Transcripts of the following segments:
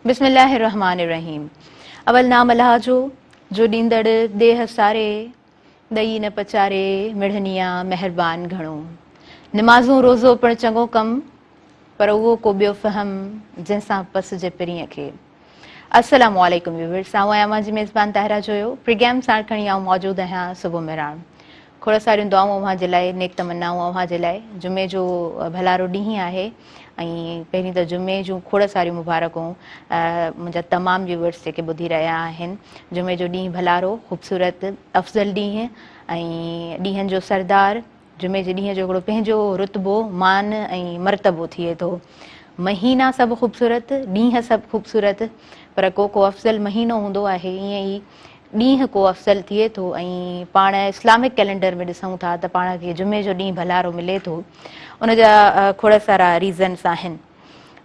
بسم الله الرحمٰن الرحيم اول نام الله جو جو ڏيندڙ ڏيهه ساري ڏئي نه پچاري مڙهنيا مهربان گهڻو نمازون روزو پڻ چڱو ڪم پر اهو ڪو ٻيو فهم جنهن سان پس جي پرينء کي السلام عليڪم ويورس آئون آهيان اوهان جي ميزبان طاهره جويو پرگيم ساڻ کڻي آئون موجود آهيان صبح مهراڻ کوڙ ساريون دعائون اوهان جي لاء، نيڪ تمنائون اوهان جي لاء. جمعي جو ڀلارو ڏينهن آهي ۽ پهرين ته جمعي جون کوڙ ساريون مبارڪون منهنجا تمام ويوئرس جيڪي ٻڌي رهيا آهن. جمعي جو ڏينهن ڀلارو، خوبصورت، افضل ڏينهن ۽ ڏينهن جو سردار. جمعي جي ڏينهن جو هڪڙو پنهنجو رتبو، مان ۽ مرتبو ٿئي ٿو. مهينا سڀ خوبصورت، ڏينهن سڀ خوبصورت پر ڪو ڪو افضل مهينو هوندو آهي ائين ئي ڏينهن ڪو افضل ٿئي ٿو ۽ پاڻ اسلامڪ ڪئلينڊر ۾ ڏسون ٿا ته پاڻ کي جمعي جو ڏينهن ڀلارو ملي ٿو ان جا کوڙ سارا ريزنس آهن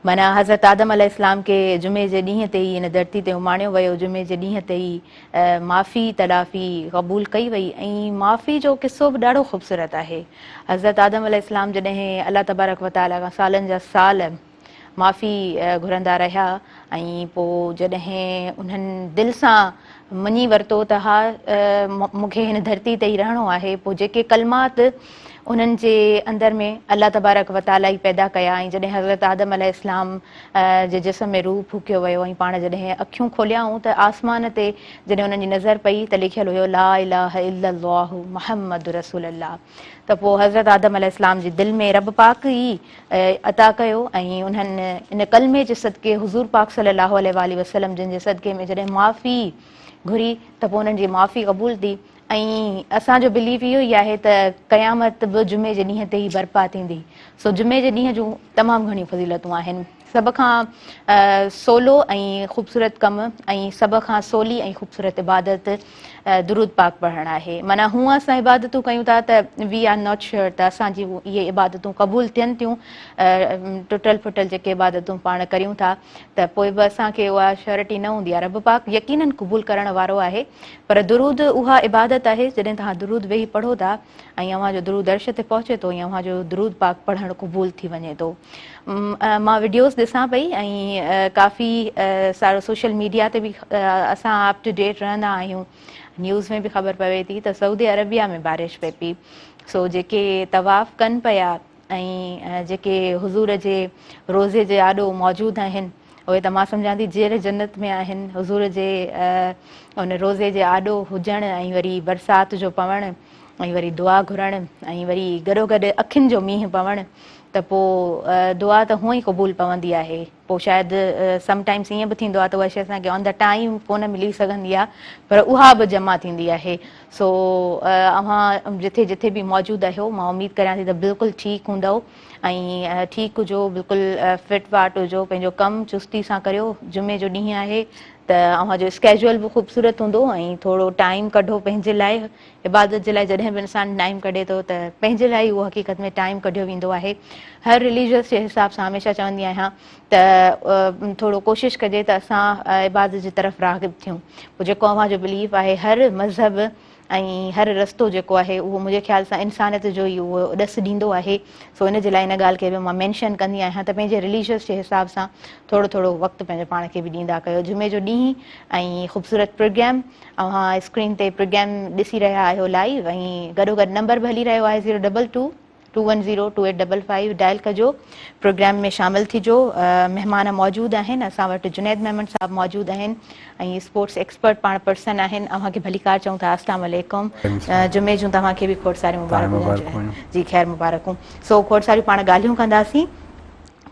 معنيٰ حضرت آدم عليه السلام کي جمعي جي ڏينهن تي ئي ان ڌرتي تي اماڻيو ويو جمعي جي ڏينهن تي ئي معافي تلافي قبول ڪئي وئي ۽ معافي جو قصو به ڏاڍو خوبصورت آهي حضرت آدم عليه السلام جڏهن الله تبارڪ وتعالي کان سالن جا سال معافي گهرندا رهيا ۽ پوء جڏهن انهن دل سان مڃي ورتو ته ها مونکي هن ڌرتي تي ئي رهڻو آهي پوء جيڪي ڪلمات انهن جي اندر ۾ الله تبارڪ وتعالي ئي پيدا ڪيا ۽ جڏهن حضرت آدم عليه السلام جي جسم ۾ روح ڦوڪيو ويو ۽ پاڻ جڏهن اکيون کوليائون ته آسمان تي جڏهن انهن جي نظر پئي ته لکيل هيو لا اله الا الله محمد رسول الله ته پوء حضرت آدم عليه السلام جي دل ۾ رب پاڪ ئي عطا ڪيو ۽ انهن ان ڪلمي جي صدقي حضور پاڪ صلي الله عليه واٰله وسلم جن جي صدقي ۾ جڏهن معافي گهري ته پوء انهن جي معافي قبول ٿي ۽ اسان جو بليف اهو ئي آهي ته قيامت به جمعي جي ڏينهن تي ئي برپا ٿيندي سو جمعي جي ڏينهن جون تمام گهڻيون فضيلتون آهن. سڀ کان سولو ۽ خوبصورت ڪم ۽ سڀ کان سولي ۽ خوبصورت عبادت درود پاڪ پڙهڻ آهي. معنيٰ هونء اسان عبادتون ڪيون ٿا ته وي آر ناٽ شيئر ته اسان جون اهي عبادتون قبول ٿين ٿيون. ٽٽل ڦٽل جيڪي عبادتون پاڻ ڪريون ٿا ته پوء به اسان کي اها شيورٽي نه هوندي آهي. رب پاڪ يقيناً قبول ڪرڻ وارو آهي پر درود اها عبادت آهي جڏهن توهان درود ويهي پڙهو ٿا ۽ اوهان جو درود عرش تي پهچي ٿو ۽ اوهان جو درود پاڪ پڙهڻ قبول ٿي وڃي ٿو مان وڊيوز ڏسان پئي ۽ ڪافي سارو سوشل ميڊيا تي به اسان اپ ٽو ڊيٽ رهندا آهيون نيوز ۾ به خبر پوي ٿي ته سعودي عربيا ۾ بارش پئي پئي سو جيڪي طواف ڪن پيا ۽ جيڪي حضور جي روزي جي آڏو موجود آهن اهي ته مان سمجهان ٿي جيئري جنت ۾ آهن. حضور جي ان روضي جي آڏو هجڻ ۽ وري برسات جو پوڻ ۽ وري دعا گهرڻ ۽ وري گڏوگڏ اکين جو مينهن پوڻ ته پوء دعا ته هونئن ئي قبول پوندي آهي. پوء شايد سم ٽائيمز ائين به ٿيندو آهي ته اها شيء اسان کي آن دي ٽائيم ڪونه ملي سگهندي آهي پر اها به جمع ٿيندي آهي. سو اوهان جٿي جٿي به موجود آهيو مان اميد ڪريان ٿي ته بلڪل ٺيڪ هوندؤ. ۽ ٺيڪ هجو بلڪل فٽ فاٽ هجو پنهنجو ڪم چستي سان ڪريو جمعي جو ڏينهن آهي ته اوهان جو اسڪيجول به خوبصورت هوندو ۽ ٿورو ٽائيم ڪڍو پنهنجي لاء عبادت جي لاء جڏهن به انسان ٽائيم ڪڍي ٿو ته پنهنجي لاء اهو حقيقت ۾ ٽائيم ڪڍيو ويندو آهي هر رليجس جي حساب سان هميشه چوندي آهيان ته ٿورو ڪوشش ڪجي ته اسان عبادت جي طرف راغب ٿيون پوء جيڪو اوهان جو بليف آهي هر مذهب ۽ هر رستو جيڪو آهي اهو منهنجي خيال سان انسانيت جو ئي اهو ڏس ڏيندو آهي سو ان جي لاء ان ڳالهه کي به مان مينشن ڪندي آهيان ته پنهنجي رليجس جي حساب سان ٿورو ٿورو وقت پنهنجي پاڻ کي به ڏيندا ڪيو جمعي جو ڏينهن ۽ خوبصورت پرگرام اوهان اسڪرين تي پرگرام ڏسي رهيا آهيو لائيو ۽ گڏو گڏ نمبر به هلي رهيو آهي zero double two two one zero two eight double five dial ڪجو پروگرام ۾ شامل ٿجو مهمان موجود آهن اسان وٽ جنيد ميمڻ صاحب موجود آهن ۽ اسپورٽس ايڪسپرٽ پاڻ پرسن آهن اوهان کي ڀليڪار چئون ٿا اسلام عليڪم جمعي جون توهان کي به کوڙ ساري مبارڪون جي خير مبارڪون سو کوڙ ساري پاڻ ڳالهيون ڪنداسين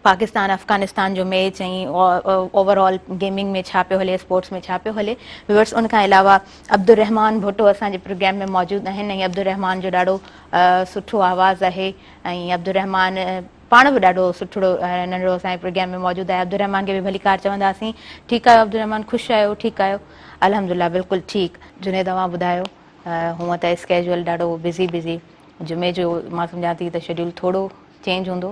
پاڪستان افغانستان جو ميچ ۽ اوور آل گيمنگ ۾ ڇا پيو هلي اسپورٽس ۾ ڇا پيو هلي ويورس ان کان علاوه عبدالرحمان ڀٽو اسان جي پروگرام ۾ موجود آهن ۽ عبدالرحمان جو ڏاڍو سٺو آواز آهي ۽ عبدالرحمان پاڻ به ڏاڍو سٺڙو ننڍڙو اسان جي پروگرام ۾ موجود آهي عبدالرحمان کي به ڀليڪار چونداسين ٺيڪ آهيو عبدالرحمان خوش آهيو ٺيڪ آهيو الحمدلله بلڪل ٺيڪ. جنيد اوهان ٻڌايو هونء ته اسڪيجول ڏاڍو بزي بزي جمعي جو مان سمجهان ٿي ته شيڊيول ٿورو چينج هوندو.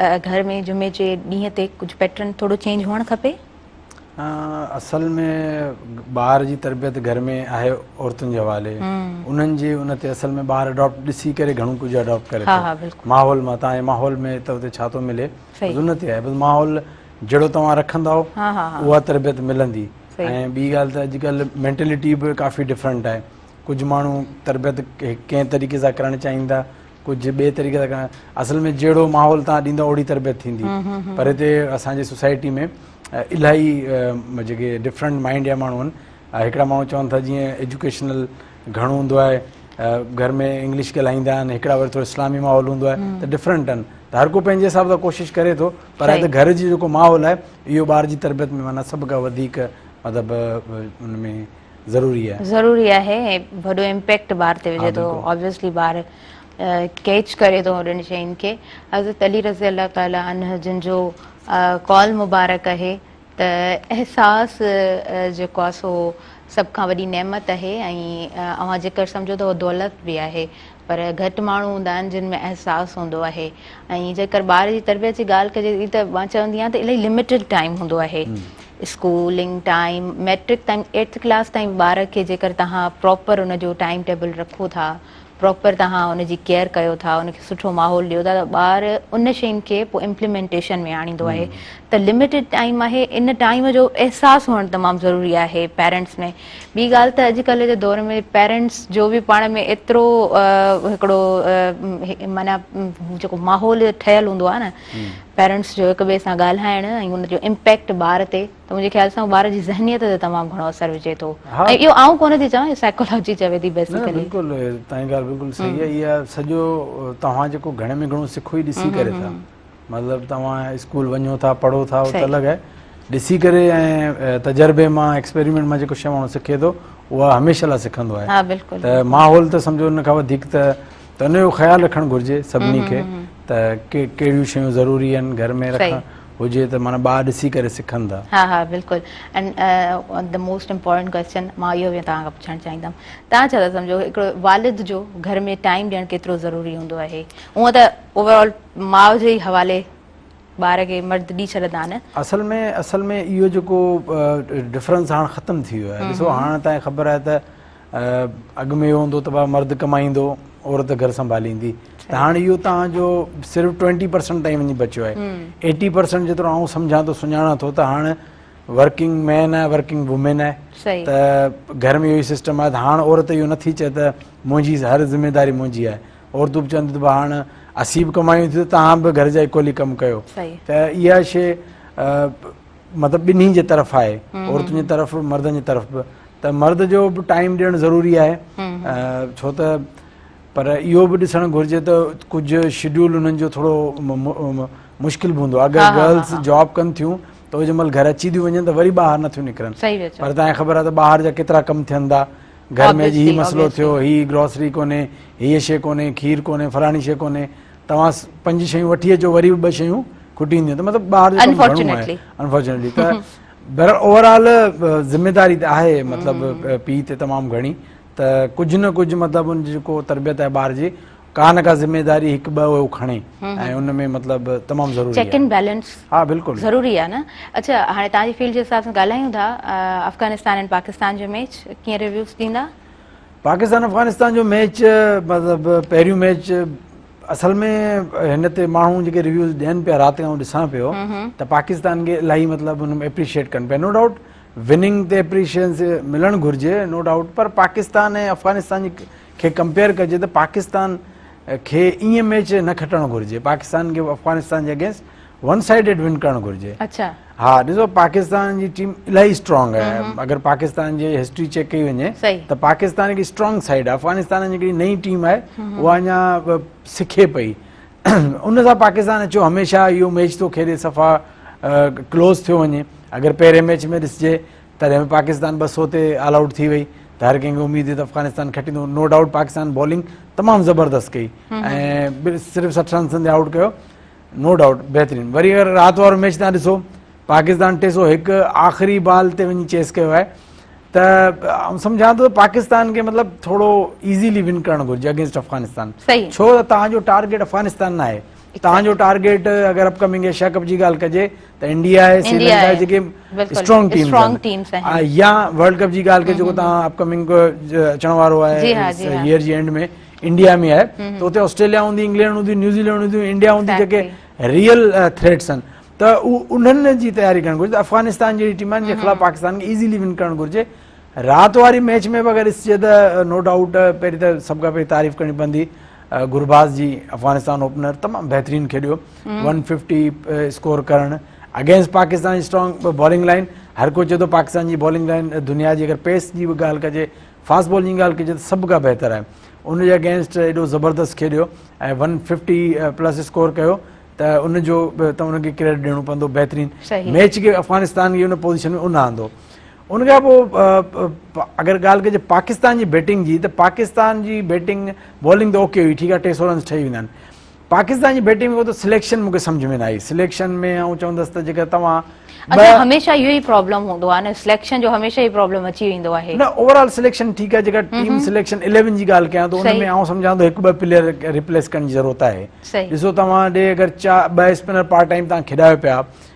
گهر ۾ جمعي جي ڏينهن تي ڪجهه پيٽرن ٿورو چينج هئڻ کپي. اصل ۾ ٻار جي تربيت گهر ۾ آهي عورتن جي حوالي انهن جي ان تي اصل ۾ ٻار اڊاپٽ ڏسي ڪري گهڻو ڪجهه اڊاپٽ ڪري ٿو ماحول مان تان ماحول ۾ ته اتي ڇا ٿو ملي ان تي آهي بس ماحول جهڙو توهان رکندؤ اها تربيت ملندي ۽ ٻي ڳالهه ته اڄڪلهه مينٽلٽي به ڪافي ڊفرنٽ آهي ڪجهه ماڻهو تربيت ڪنهن طريقي سان ڪرڻ چاهيندا ڪجهه ٻئي طريقي سان ڪرڻ اصل ۾ جهڙو ماحول تان ڏيندا اوڙي تربيت ٿيندي پر هتي اسان جي سوسائٽي ۾ الاهي جيڪي ڊفرنٽ مائنڊ جا ماڻهو آهن هڪڙا ماڻهو چون ٿا جيئن ايجوڪيشنل گهڻو هوندو آهي گهر ۾ انگلش ڳالهائيندا آهن هڪڙا وري ٿورو اسلامي ماحول هوندو آهي ته ڊفرنٽ آهن ته هر ڪو پنهنجي حساب سان ڪوشش ڪري ٿو پر هتي گهر جي جيڪو ماحول آهي اهو ٻار جي تربيت ۾ معنيٰ سڀ کان وڌيڪ مطلب ان ۾ ضروري آهي. ضروري آهي ۽ وڏو امپيڪٽ ٻار تي وجهي ٿو Obviously ٻار ڪيچ ڪري ٿو هوڏن شين کي حضرت علي رضي الله تعالٰي عنه جن جو قول مبارڪ اهي ته احساس جيڪو آهي سو سڀ کان وڏي نعمت اهي ۽ اوهان جيڪر سمجهو ته اهو دولت به آهي پر گهٽ ماڻهو هوندا آهن جن ۾ احساس هوندو آهي ۽ جيڪر ٻار جي تربيت جي ڳالهه ڪجي ته ته مان چوندي آهيان ته الاهي لمٽيڊ ٽائيم هوندو آهي اسڪولنگ ٽائيم ميٽرڪ تائين ايٽٿ ڪلاس تائين ٻار کي جيڪر تهان پراپر ان جو ٽائيم ٽيبل رکو ٿا پراپر تهان ان جي ڪيئر ڪيو ٿا ان کي سٺو ماحول ڏيو ٿا ته ٻار ان شين کي پوء امپلمينٽيشن ۾ آڻيندو آهي ته لمٽيڊ ٽائيم آهي ان ٽائيم جو احساس هئڻ تمام ضروري آهي پيرنٽس ۾ ٻي ڳالهه ته اڄڪلهه جي دور ۾ پيرنٽس جو به پاڻ ۾ ايترو هڪڙو معنيٰ جيڪو ماحول ٺهيل هوندو آهي نه پيرنٽس جو هڪ ٻئي سان ڳالهائڻ ۽ ان جو امپيڪٽ ٻار تي ته منهنجي خيال سان ٻار جي ذهنيت تي تمام گهڻو اثر وجهي ٿو ۽ اهو آئون ڪونه ٿي چوان اهو سائيڪالاجي چوي ٿي بيسيڪلي بلڪل تنهنجي ڳالهه بلڪل صحيح آهي اها سڄو توهان جيڪو گهڻي ۾ گهڻو سکو ئي ڏسي ڪري ٿا مطلب توهان اسڪول وڃو ٿا پڙهو ٿا اهو ته الڳ آهي ڏسي ڪري ۽ تجربي مان ايڪسپيريمينٽ مان جيڪو شي ماڻهو سکي ٿو اها هميشه لاء سکندو آهي ها بلڪل ته ماحول ته سمجهو ان کان وڌيڪ ته ته ان جو خيال رکڻ گهرجي سڀني کي ته ڪهڙيون شيون ضروري آهن گهر ۾ رکڻ هجي ته معنيٰ ٻار ڏسي ڪري سکن ٿا ها ها بلڪل and the most important question مان اهو به توهان کان پڇڻ چاهيندم توهان ڇا ٿا سمجهو هڪڙو والد جو گهر ۾ ٽائيم ڏيڻ ڪيترو ضروري هوندو آهي هونئن ته اوور آل ماء جي ئي حوالي ٻار کي مرد ڏي ڇڏندا آهن. اصل ۾ اصل ۾ اهو جيڪو ڊفرنس هاڻ ختم ٿي ويو آهي ڏسو هاڻ تائين خبر آهي ته اڳ ۾ اهو هوندو ته ڀا مرد ڪمائيندو عورت گهر سنڀاليندي ته هاڻ اهو تان جو صرف ٽوئنٽي پرسنٽ تائين وڃي بچيو آهي ايٽي پرسنٽ جيترو آئون سمجهان ٿو سڃاڻان ٿو ته هاڻ ورڪنگ مين آهي ورڪنگ وومين آهي ته گهر ۾ اهو سسٽم آهي ته هاڻ عورت اهو نٿي چئي ته منهنجي هر ذميواري منهنجي آهي عورتون به چون ٿيون ته ڀا هاڻ اسين به ڪمايون ٿيون ته توهان به گهر جا اڪولي ڪم ڪيو ته اها شيء مطلب ٻنهي جي طرف آهي عورتن جي طرف به مردن جي طرف به ته مرد جو به ٽائيم ڏيڻ ضروري آهي ڇو ته پر اهو به ڏسڻ گهرجي ته ڪجهه شيڊيول انهن جو ٿورو مشڪل به هوندو آهي اگر گرلس جاب ڪن ٿيون ته جنهن مهل گهر اچي ٿيون وڃن ته وري ٻاهر نٿيون نڪرن پر تانکي خبر آهي ته ٻاهر جا ڪيترا ڪم ٿين ٿا گهر ۾ اڄ هي مسئلو ٿيو، هي گروسري ڪونهي، هيء شيء ڪونهي، کير ڪونهي، فلاڻي شيء ڪونهي، توهان پنج شيون وٺي اچو وري به ٻه شيون کٽي اينديون ته مطلب ٻاهر جو ڪم گهڻو آهي انفارچونيٽلي ته بهرحال اوورآل ذميداري ته آهي مطلب پيء تي تمام گهڻي ته ڪجهه نه ڪجهه مطلب ان جي جيڪو تربيت آهي ٻار جي ڪا نه ڪا ذميداري هڪ ٻه هو کڻي ۽ ان ۾ مطلب تمام ضروري چيڪ اينڊ بيلنس ها بلڪل ضروري آ نه اڇا هاڻي تان جي فيلڊ جي حساب سان ڳالهايون ٿا افغانستان ۽ پاڪستان جو ميچ ڪيئن ريويوز ڏيندا پاڪستان افغانستان جو ميچ مطلب پهريون ميچ اصل ۾ هن تي ماڻهو جيڪي ريويوز ڏين پيا رات کان ڏسان پيو ته پاڪستان کي الاهي مطلب ان ۾ اپريشيٽ ڪن پيا نو ڊائوٽ وننگ تي اپريشيشن ملڻ گهرجي نو ڊائوٽ پر پاڪستان ۽ افغانستان جي کي ڪمپيئر ڪجي ته پاڪستان کي ائين ميچ نه کٽڻ گهرجي پاڪستان کي افغانستان جي اگينسٽ ون سائيڊيڊ ون ڪرڻ گهرجي ها ڏسو پاڪستان جي ٽيم الاهي اسٽرانگ آهي اگر پاڪستان جي هسٽري چيڪ ڪئي وڃي ته پاڪستان هڪ اسٽرانگ سائيڊ آهي افغانستان جي هڪڙي نئي ٽيم آهي اها اڃا سکي پئي ان سان پاڪستان اچو هميشه اهو ميچ ٿو کيڏي صفا ڪلوز ٿيو وڃي اگر پهرين ميچ ۾ ڏسجي تڏهن به پاڪستان ٻه سؤ تي آل آئوٽ ٿي وئي ته هر ڪنهن کي اميد هئي ته افغانستان کٽيندو نو ڊائوٽ پاڪستان بالنگ تمام زبردست ڪئي ۽ صرف سٺ رنسن تي آئوٽ ڪيو نو ڊائوٽ بهترين وري اگر رات وارو ميچ تان ڏسو پاڪستان ٽي سو هڪ آخري بال تي وڃي چيس ڪيو آهي ته سمجھان ٿو پاڪستان کي مطلب ٿورو ايزيلي ون ڪرڻ گھرجي اگينسٽ افغانستان ڇو ته تنهنجو ٽارگيٽ افغانستان نه آهي تنهنجو ٽارگيٽ اگر اپ ڪمنگ ايشيا ڪپ جي ڳالهه ڪجي ته انڊيا ۽ سري لنڪا جيڪي اسٽرانگ ٽيمز آهن يا ورلڊ ڪپ جي ڳالهه ڪجي جيڪو تهان اپ ڪمنگ اچڻ وارو آهي ييئر جي اينڊ ۾ انڊيا ۾ آهي ته اتي آسٽريليا هوندي انگلينڊ هوندي نيوزيلينڊ هوندي انڊيا هوندي جيڪي ريئل ٿريٽس آهن ته انهن جي تياري ڪرڻ گهرجي افغانستان جهڙي ٽيم آهن جنهن خلاف پاڪستان کي ايزيلي ون ڪرڻ گهرجي رات واري ميچ ۾ به اگر ڏسجي ته نو ڊائوٽ پهرين ته سڀ کان پهرين تعريف ڪرڻي پوندي گرباز جي افغانستان اوپنر تمام بهترين کيڏيو ون ففٽي اسڪور ڪرڻ اگينسٽ پاڪستان جي اسٽرانگ بالنگ لائن هر ڪو چئي ٿو پاڪستان جي بالنگ لائن دنيا جي اگر پيس جي به ڳالهه ڪجي فاسٽ بال جي ڳالهه ڪجي ته سڀ کان بهتر آهي ان جي اگينسٽ ايڏو زبردست کيڏيو ۽ ون ففٽي پلس اسڪور ڪيو ته ان جو ته ان کي ڪريڊٽ ڏيڻو پوندو بهترين ميچ کي افغانستان کي ان پوزيشن ۾ ان آندو ان کان پوء اگر ڳالهه ڪجي پاڪستان جي بيٽنگ جي ته پاڪستان جي بيٽنگ بالنگ ته اوڪي هئي ٺيڪ آهي ٽي سو رنس ٺهي ويندا آهن پاڪستان جي بيٽنگ ۾ اهو ته سليڪشن مون کي سمجھ ۾ نه آئي سليڪشن ۾ آئون چوندس ته جيڪا توهان اچا هميشه اهو ئي پرابلم هوندو آهي نه سليڪشن جو هميشه اهو پرابلم اچي ويندو آهي نه اوور آل سليڪشن ٺيڪ آهي جيڪا ٽيم سليڪشن اليون جي ڳالهه ڪيان ٿو ان ۾ آئون سمجهان ٿو هڪ ٻه پليئر ريپليس ڪرڻ جي ضرورت آهي ڏسو توهان ڏي اگر ٻه اسپنر پارٽ ٽائيم توهان کيڏايو پيا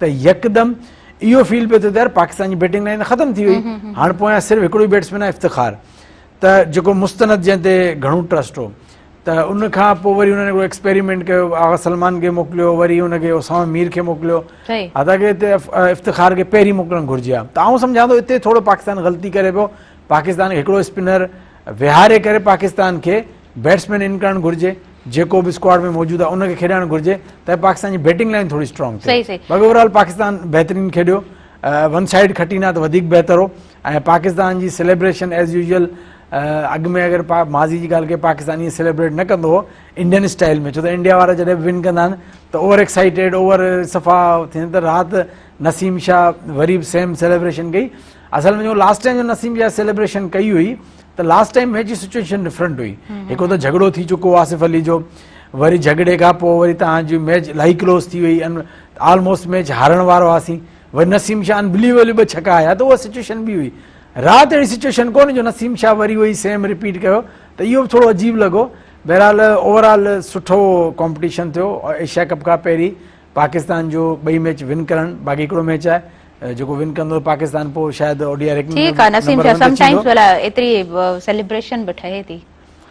ته يڪدم اهو فيل پيو ٿئي ته يار پاڪستان جي بيٽنگ لائين ختم ٿي وئي هاڻ پويان صرف هڪڙو ئي بيٽسمين آهي افتخار ته جيڪو مستند جنهن تي گهڻو ٽرسٽ هو ته ان کان پوء وري انهن هڪڙو ايڪسپيريمينٽ ڪيو آغا سلمان کي موڪليو وري ان کي اسامه مير کي موڪليو حتان ڪي هتي افتخار کي پهرين موڪلڻ گهرجي ها ته آئون سمجهان ٿو هتي ٿورو پاڪستان غلطي ڪري پيو پاڪستان کي هڪڙو اسپنر ويهاري ڪري پاڪستان کي بيٽسمين ان ڪرڻ گهرجي جيڪو به اسڪواڊ ۾ موجود آهي ان کي کيڏائڻ گهرجي ته پاڪستان جي بيٽنگ لائن ٿوري اسٽرانگ ٿئي باقي اوور آل پاڪستان بهترين کيڏيو ون سائيڊ کٽين ها ته وڌيڪ بهتر هو ۽ پاڪستان جي سيليبريشن ايز يوزل اڳ ۾ اگر ماضي جي ڳالهه ڪي پاڪستان ائين سيليبريٽ نه ڪندو هو انڊين اسٽائل ۾ ڇو ته انڊيا وارا جڏهن به ون ڪندا آهن ته اوور ايڪسائيٽيڊ اوور صفا ٿين ته رات نسيم شاهه وري به سيم سيليبريشن ڪئي اصل ۾ جو لاسٽ ٽائيم جو نسيم جا سيليبريشن ڪئي هئي ته لاسٽ ٽائيم هي جي سچويشن ڊفرنٽ هئي هڪ ته جهڳڙو ٿي چڪو آصف علي جو وري جهڳڙي کان پوء وري توهان جي ميچ الائي ڪلوز ٿي وئي آلموسٽ ميچ هارڻ وارا هئاسين وري نسيم شاهه انبليويبل ٻه ڇڪا آيا ته اها سچويشن به هئي رات اهڙي سچويشن ڪو نه جو نسيم شاهه وري اهو ئي سيم رپيٽ ڪيو ته اهو به ٿورو عجيب لڳو بهرحال اوور آل سٺو ڪمپٽيشن ٿيو ايشيا ڪپ کان پهرين پاڪستان جو ٻئي ميچ ون ڪرڻ باقي هڪڙو ميچ آهي جيڪو ون ڪندو پاڪستان پوء شايد O D I ranking ۾ number one تي ٿيندو.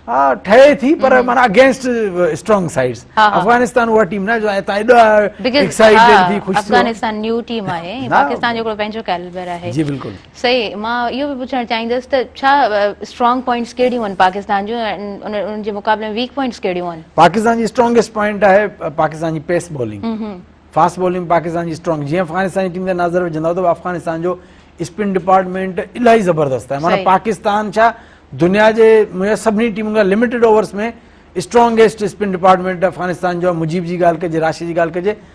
ها ٺهي ٿي پر معنيٰ اگينسٽ اسٽرانگ سائيڊز افغانستان اها ٽيم ناهي جو هتان ايڏا ايڪسائيٽيڊ ٿي خوش ٿيو. صحيح مان اهو به پڇڻ چاهيندس ته ڇا اسٽرانگ پوائنٽس ڪهڙيون آهن پاڪستان جون ۽ انهن جي مقابلي ۾ ويڪ پوائنٽس ڪهڙيون آهن. پاڪستان جي اسٽرانگسٽ پوائنٽ آهي پاڪستان جي pace bowling fast bowling Pakistan جي اسٽرانگ جيئن افغانستان جي ٽيم تي ناظر وجهندؤ ته افغانستان جو اسپن ڊپارٽمينٽ الاهي زبردست آهي معنيٰ پاڪستان ڇا دنيا جي معنيٰ سڀني ٽيمن کان limited overs ۾ strongest spin department Afghanistan جو مجيب جي ڳالهه ڪجي راشد جي ڳالهه ڪجي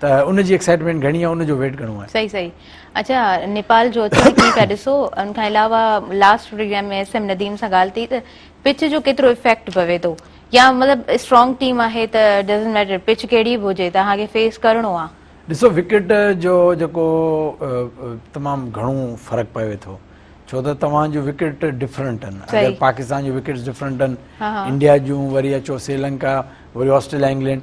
ته ان جي ايڪسائٽمينٽ گهڻي آهي ان جو ويٽ گهڻو آهي صحيح صحيح اڇا نيپال جو اچڻ ڪيئن پيا ڏسو ان کان علاوه last programme ۾ S M Nadeem سان ڳالهه ٿي ته پچ جو ڪيترو افيڪٽ پوي ٿو يا مطلب اسٽرانگ ٽيم آهي ته ڊزنٽ ميٽر پچ ڪهڙي به هجي توهان کي فيس ڪرڻو آهي ڏسو وڪيٽ جو جيڪو تمام گهڻو فرق پوي ٿو ڇو ته توهان جون وڪيٽ ڊفرنٽ آهن اگر پاڪستان جون وڪيٽس ڊفرنٽ آهن انڊيا جون وري اچو سريلنڪا وري آسٽريليا انگلينڊ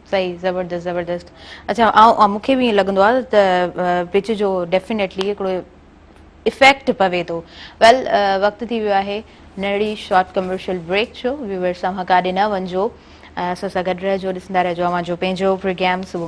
صحيح زبردست زبردست اچا آئون مونکي به ائين لڳندو آ ته پچ جو ڊيفينيٽلي هڪڙو افيڪٽ پوي ٿو ويل وقت ٿي ويو آهي ننڍڙي شارٽ ڪمرشل بريڪ جو ويورس اوهان ڪاڏي نه وڃجو اسان سان گڏ رهجو ڏسندا رهجو اوهان جو پنهنجو پروگرام صبح